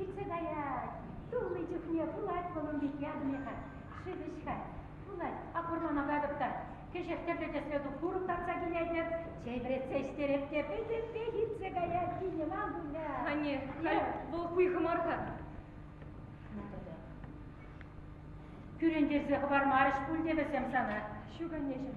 Иртсе каять. Тулли чухне пулать вӑл ун пек ятне-ха. Шивӗҫ-ха. Пулать. Апӑрлана катӑп та. Кӗҫех тӗрлӗ тӗслӗ туп курӑк татса килетӗп. Чей вӗретсе ӗҫтереп те пӗтӗмпех иртсе каять кинӗ Мамуля. Анне, халь вӑл хуйхӑ мар-ха. Кӳрентерсе хӑвармарӗҫ пуль те вӗсем сана. Ҫук, аннеҫӗм.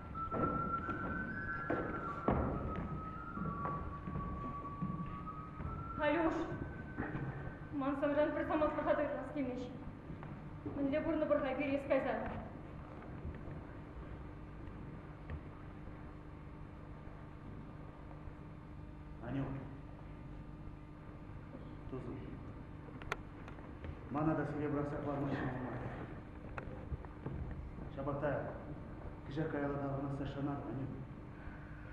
Алюш, ман сӑнран пӗр самантлӑха та ыйтас килмест. Мӗнле пурнӑ пӑрна пирес кайсан? Анюк, Мана та сире пӑрахса хӑварма ҫӑмӑл мар. Ҫапах та кӗҫех каялла таврӑнасса шанар, Анюк.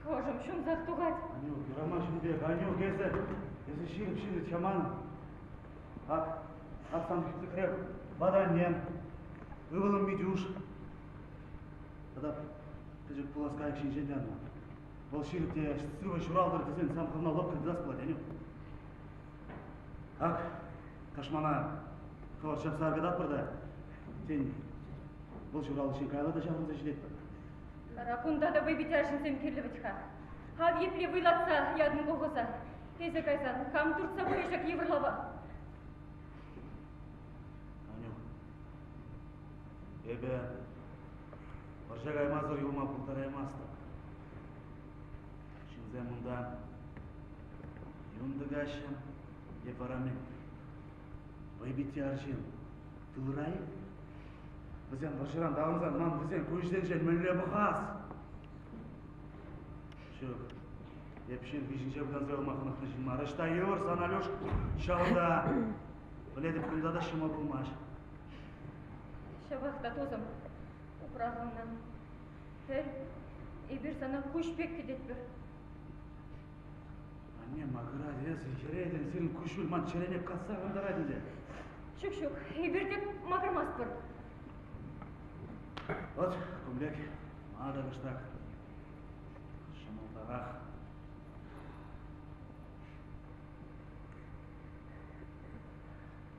Ӑшӑм ҫунсах тухать. Анюк, юрама ҫын пек. Анюк, эсӗ, эсӗ ҫирӗп ҫыннӑ чаман. Ак, ак сан хӳтлӗхре ватаннем, ывӑлӑм Митюш. Тата пӗчӗк пулас кайӑк ҫинчен те ӑна. Вӑл ҫын те сывӑ ҫуралтӑр тесен сан хӑвна лӑпкӑ тытас пулать, Яню. Ак, тӑшмана хӑвӑр ҫапса аркататпӑр та, тен, вӑл ҫуралнӑ каялла та ҫаврӑнса ҫитетпӗр. Вара кунта та вӑйпитер ҫынсем кирлӗ вӗт-ха. Ав епле вӑйлатса ятӑн колхоза. Эсӗ кайсан кам туртса пырӗ ҫак йывӑр лава? Аню, Эпӗ вӑрҫа каймасӑр юлма пултараймастӑп. Ҫынсем унта юн тӑкаҫҫӗ, эп вара-мӗн. Вӑйпитти арҫын тылра-и? Вӗсем вӑрҫӑран таврӑнсан ман вӗсен куҫсенче мӗнле пӑхас? Ҫук, эп ҫырхи ҫинче выртанса юлма хӑнӑхнӑ ҫын мар. Ӑҫта йывӑр сан, Алюш? Ҫавӑнта, пӗлетӗп, кунта та ҫума пулмасть. Ҫапах та, тусӑм, упрасӑнна. Хӗр, эпир сана куҫ пек кӗтетпӗр. Анне макӑрать эсӗ, йӗретӗн, сирӗн куҫ вырман чӗрене касса кӑнтарать ӗнтӗ. Ҫук, ҫук, эпир те макӑрмастпӑр. Вӑт, кумлек, мата кӑштах. Ҫӑмӑлтарах.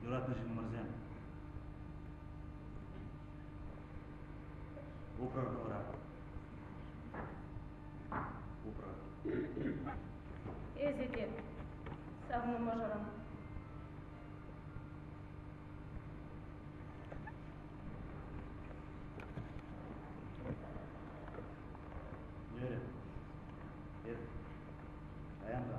Юратнӑ ҫыннӑмӑрсем, упрӑр хӑвӑра. Упрӑр. Эсӗ те савнӑ мӑшӑрӑм. Йӗрӗ. Ир. Паян та.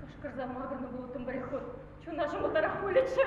Кӑшкӑрса макӑрнӑ пулӑттӑм пареход. Чуна ҫӑмӑлтарах пулӗччӗ.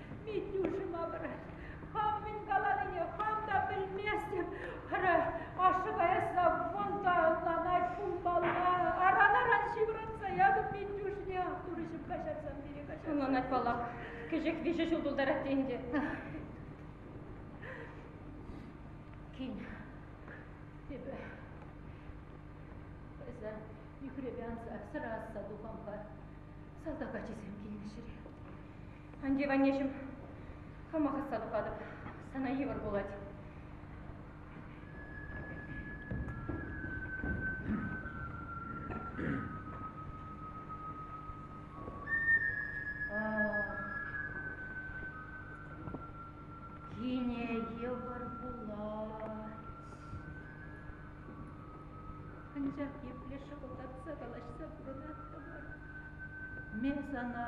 Митюшӗ малар. Хам мӗн каланине хам та пӗлместӗп. Ара, ашшӗпе Эсла вӑн та ӑнланать пулмалла. Аран-аран ҫывӑртса ятӑм Митюшне. Турӑҫӑм каҫарсан пире каҫарсан. Ӑнланать паллах. Кӗҫех виҫӗ ҫул тултарать те ӗнтӗ. Кин, эпӗ эсӗ нӳхрепе анса сӑра асса тухампа салтак ачисем килнӗ ҫӗре. Ан тив, аннеҫӗм, хамах ӑсса тухатӑп. Сана йывӑр пулать. Анчах епле шӑкӑлтатса калаҫса пурӑнаттӑмӑр. Ме сана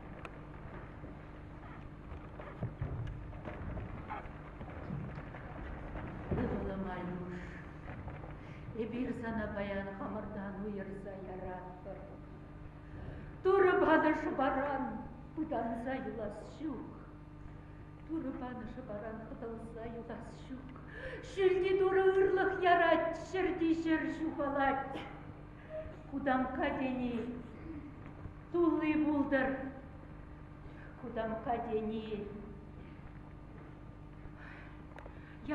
Ывӑлӑм Алюш, эпир сана паян хамӑртан уйӑрса яратпӑр. Турӑ панӑ шӑпаран пытанса юлас ҫук. Турӑ панӑ шӑпаран хӑтӑлса юлас ҫук. Ҫӳлти Турӑ ырлӑх ярать, ҫӗрти ҫӗр ҫухалать. Кутамкка тени тулли пултӑр. Кутамкка тени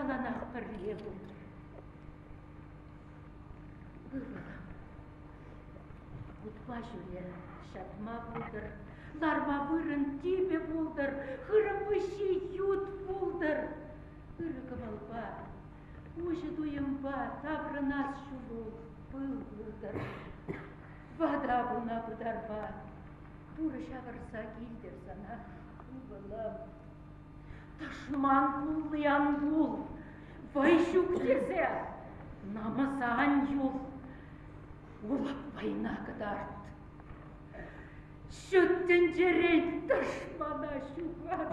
яланах пӗрле пултӑр. Ывӑлам, утпа ҫӳре, ҫатма пултӑр, ларма вырӑн типӗ пултӑр, хырӑм выҫҫи ют пултӑр. Ырӑ кӑмӑлпа Уҫӑ туйӑмпа таврӑнас ҫулу пыл выртӑр. Вата пулна пытарпа, пурӑ ҫавӑрса килтӗр сана, ывӑлӑм. Тӑшман кулли ан кул, вӑй ҫук тесе, намӑса ан юл, улах вӑйна кӑтарт. Ҫут тӗнчерен тӑшмана ҫухат.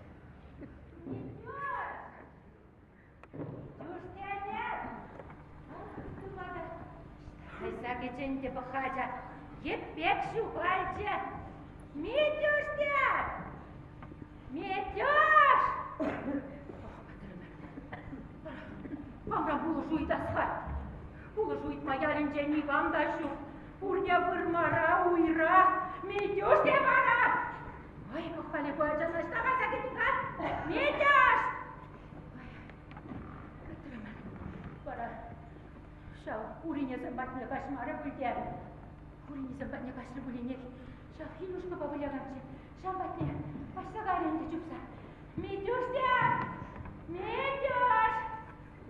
Хӑйса кӗчӗн те пӑхха ача. Йӗппек ҫухалчӗ. Митюшня! Митюш! Манра пулӑшу ыйтас-ха. Пулӑшу ыйтма ялӗнче никам та ҫук. Пурне вырмара, уйра. Митюшня вара! Ай, пӑхмалли ку ача, значит, давай закинь-ка. Метяш! Кӗтрӗмӗр. Вара ҫав уринесем патне каҫмарӗ пуль Уринесем патне каҫрӗ пулинех. Ҫав Хинюшкӑпа вылянатчӗ. Ҫав патне каҫса кайрӗ ӗнтӗ чупса. Метюш те! Метюш!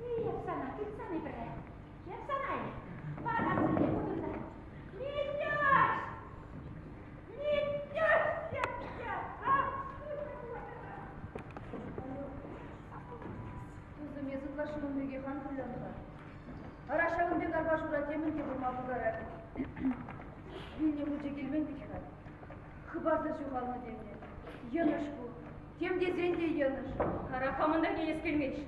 Эх, сана тытсани пӗрре. Тем сана парассине кутӑрса. Митяш! Митяш! Тусӑм, эс ытлашши ун пекех ан кулянта. Ара ҫавӑн пек арпашура темӗн те пулма пултарать. Вилнӗ хучӗ килмен пек-ха. Хыпарсӑр ҫухалнӑ тенӗ. Йӑнӑш ку. Тем тесен те йӑнӑш. Ара, камӑн та килес килмест.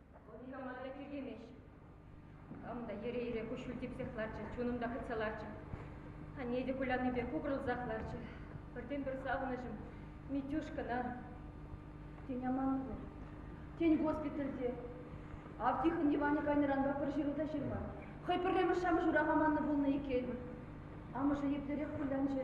Вӑл никама та тӳлемест. Кам та йӗре-йӗре куҫҫуль типсех ларчӗ, чунӑм та хытса ларчӗ. Анне те куляннипе кукӑрӑлсах ларчӗ. Пӗртен-пӗр савӑнӑҫӑм Митюшкӑна. Тен, аманнӑ пуль. Тен, госпитальте. Ав Тихӑн Иванӗ кайнӑранпа пӗр ҫыру та ҫырма. Хӑй пӗрремӗш-шамӑш урах аманнӑ пулнӑ иккен. Амӑшӗ еплерех кулянчӗ.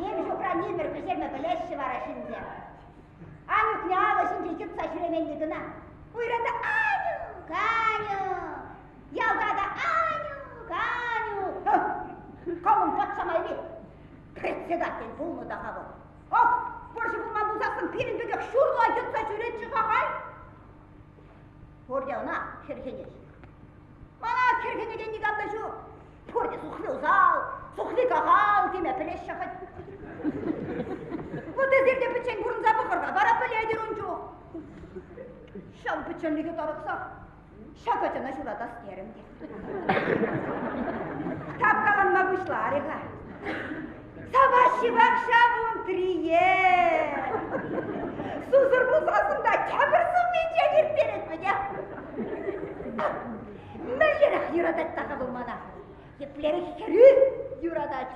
Нимӗҫ упрани пӗр пӗҫерме пӗлеҫҫӗ вара ҫынсем. Анюкне алӑ ҫинче йӑтса ҫӳременни кӑна. Уйра та Анюк, Анюк, ялта та Анюк, Анюк. Калӑн пат самайри председатель пулнӑ та-ха вӑл. Ак, вӑрҫӑ пулман пулсассӑн пирӗн пекех ҫурла йӑтса ҫӳретчӗ-ха, ай! Пур те ӑна хӗрхенет. Мана хӗрхенекен никам та ҫук. Пур те сухли усал, сухли кахал теме пӗлеҫҫӗ хӑть. Вот эсир те пӗччен пурӑнса пӑхӑр-ха, вара пӗлетӗр ун чух. Ҫав пӗчченлӗхе тарӑхсах Ҫакӑ ачана ҫуратас терӗм те. Таптанма пуҫларӗ-ха. Саваҫҫи-вак ҫав ун трие. Сусӑр пулсассӑн та тепӗр сумминчен ирттерет пӗтӗ. Мӗнлерех юратать та-ха вӑл мана? Еплерех хӗрӳ юратать.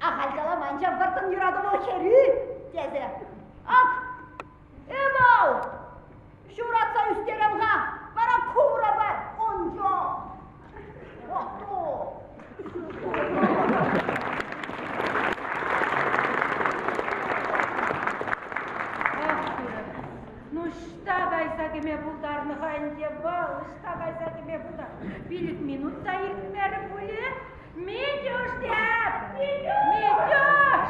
Ахаль каламан ҫав вӑрттӑн юрату вӑл хӗрӳ тесе. Ак, Ывӑл, ҫуратса ӳстерем-ха, вара курӑ пар ун чух. Ну ӑҫта кайса кӗме пултарнӑ-ха ӗнтӗ вӑл? Ӑҫта кайса кӗме пултарнӑ? Пилӗк минут та иртмерӗ пулӗ? Митюш, Митюш!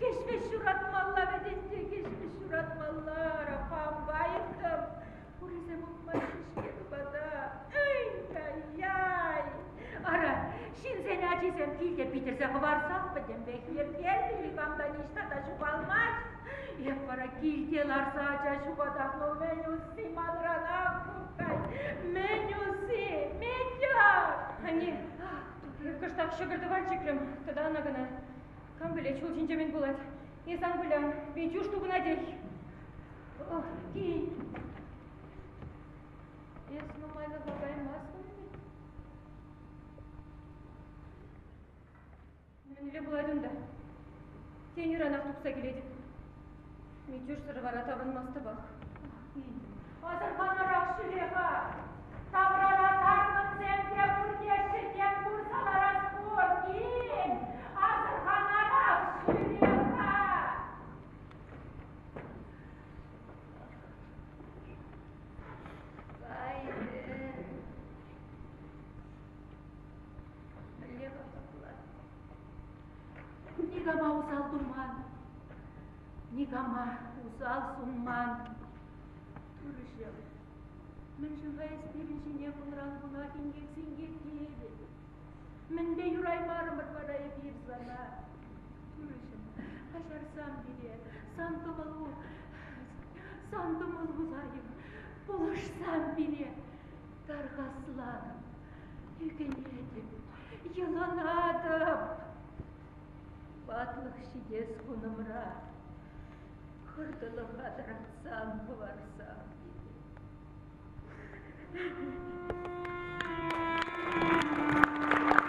Кӗҫ-вӗҫ ҫуратмалла вӗтетсе, кӗҫ-вӗҫ ҫуратмалла. Рахампа айӑттым. Пурисем утмаҫҫӗ-ҫке тупата. Ай-яй-яй. Ара, ҫынсен ачисем килте питӗрсе хӑварсах пӗтӗмпех йӗркелнӗ, никам та ниҫта та ҫухалмасть. Эп вара килте ларса ача ҫухатам, ну мӗн усси манранах, кукай, мӗн усси, Митя! Анне, кӑштах ҫӑкӑр тӑван чикрӗм, тата ӑна кӑна. Кам пӗлет, ҫул ҫинче мӗн пулать. Эс ан кулян, Витюш тупӑнатех. Ох, кин. Эс нумайлӑха каймастӑн-и? Мӗнле пулать унта? Тен, ыранах тухса килетӗп. Митюшсӑр вара тапӑнмастӑпах. Асӑрханӑрах ҫӳле-ха! Таврара таркӑнсем те пурте ҫӗтем пырса ларас пур, кил! Асӑрханарах ҫӳле-ха! Кайрӗ. Мӗнле вӑхӑтла? Никама усал туман, никама усал сунман. Турӑҫӑм, мӗншӗн-ха эс пирӗн ҫине кунран кунах инкек-синкек тиетӗн? Мӗнпе юраймарӑмӑр вара эпир сана? Турӑҫӑм, каҫарсам пире, сан кӑмӑлу, сан кӑмӑлу, Займ, пулӑшсам пире. Тархасланӑм, ӳкӗнетӗп, йӑланатӑп. Ватлӑх ҫитес кунӑмра хӑртӑлӑха тӑратсан хӑварсам.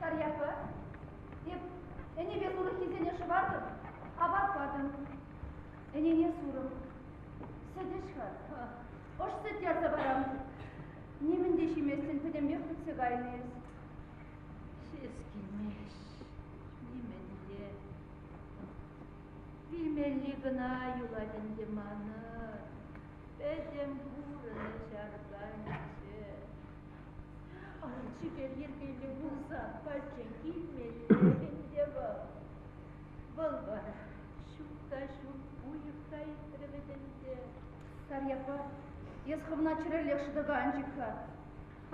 Тарьяпа, эп ӗнепе сурӑххисене шӑвартӑм, апат патӑм. Ӗнене сурӑм. Сӗтӗҫ-ха, ӑш сӗттерсе парам. Нимӗн те ҫиместӗн пӗтӗмпех пӗтсе кайнӑ эс. Ҫеҫ килмест, нимӗнле. Вилмелли кӑна юлать ӗнтӗ манӑн. Пӗтӗм пурӑнӑҫ арканчӗ. чипер йӗркеллӗ пулса пачча килмелле ӗнтӗ вӑл. Вӑл вара ҫук та ҫук уйӑх та иртрӗ вӗт ӗнтӗ. Старьякпа, эс хӑвна чӗрӗллех шӑтӑка анчӗ-ха.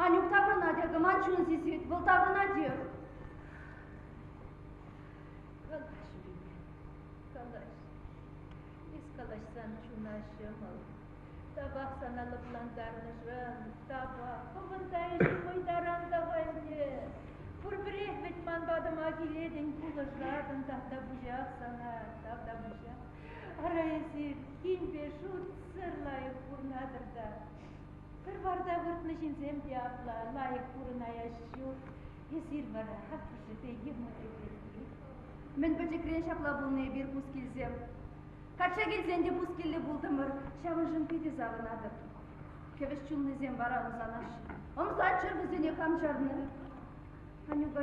Анюк таврӑнать, акӑ ман чун сисет, вӑл таврӑнатех. Калаҫ, Риме, калаҫ. Эс калаҫсан чуна ҫӑмӑл. Табах сана лӑплантарнӑшӑн, табак, хӑпӑрта эсӗ хӑй таран тава ӗнтӗ. Пурпӗрех вӗт ман патӑма килетӗн, пулӑшатӑн, тавтапуҫах сана, тавтапуҫах. Ара, эсир тинпе шутсӑр лайӑх пурӑнатӑр та. Пӗр варта выртнӑ ҫынсем те апла лайӑх пурӑнаяҫ ҫук. Эсир вара аппӑшӗпе йӑмӑкӗ пирки. Мӗн пӗчӗкрен ҫапла пулнӑ эпир, Пускилсем. Качча килсен те пускилле пултӑмӑр, ҫавӑншӑн питӗ савӑнатӑп. Кӗвӗҫ чунлисем вара ӑмсанаҫҫӗ. Ӑмсаччӑр вӗсене хам чарнӑ. Анюка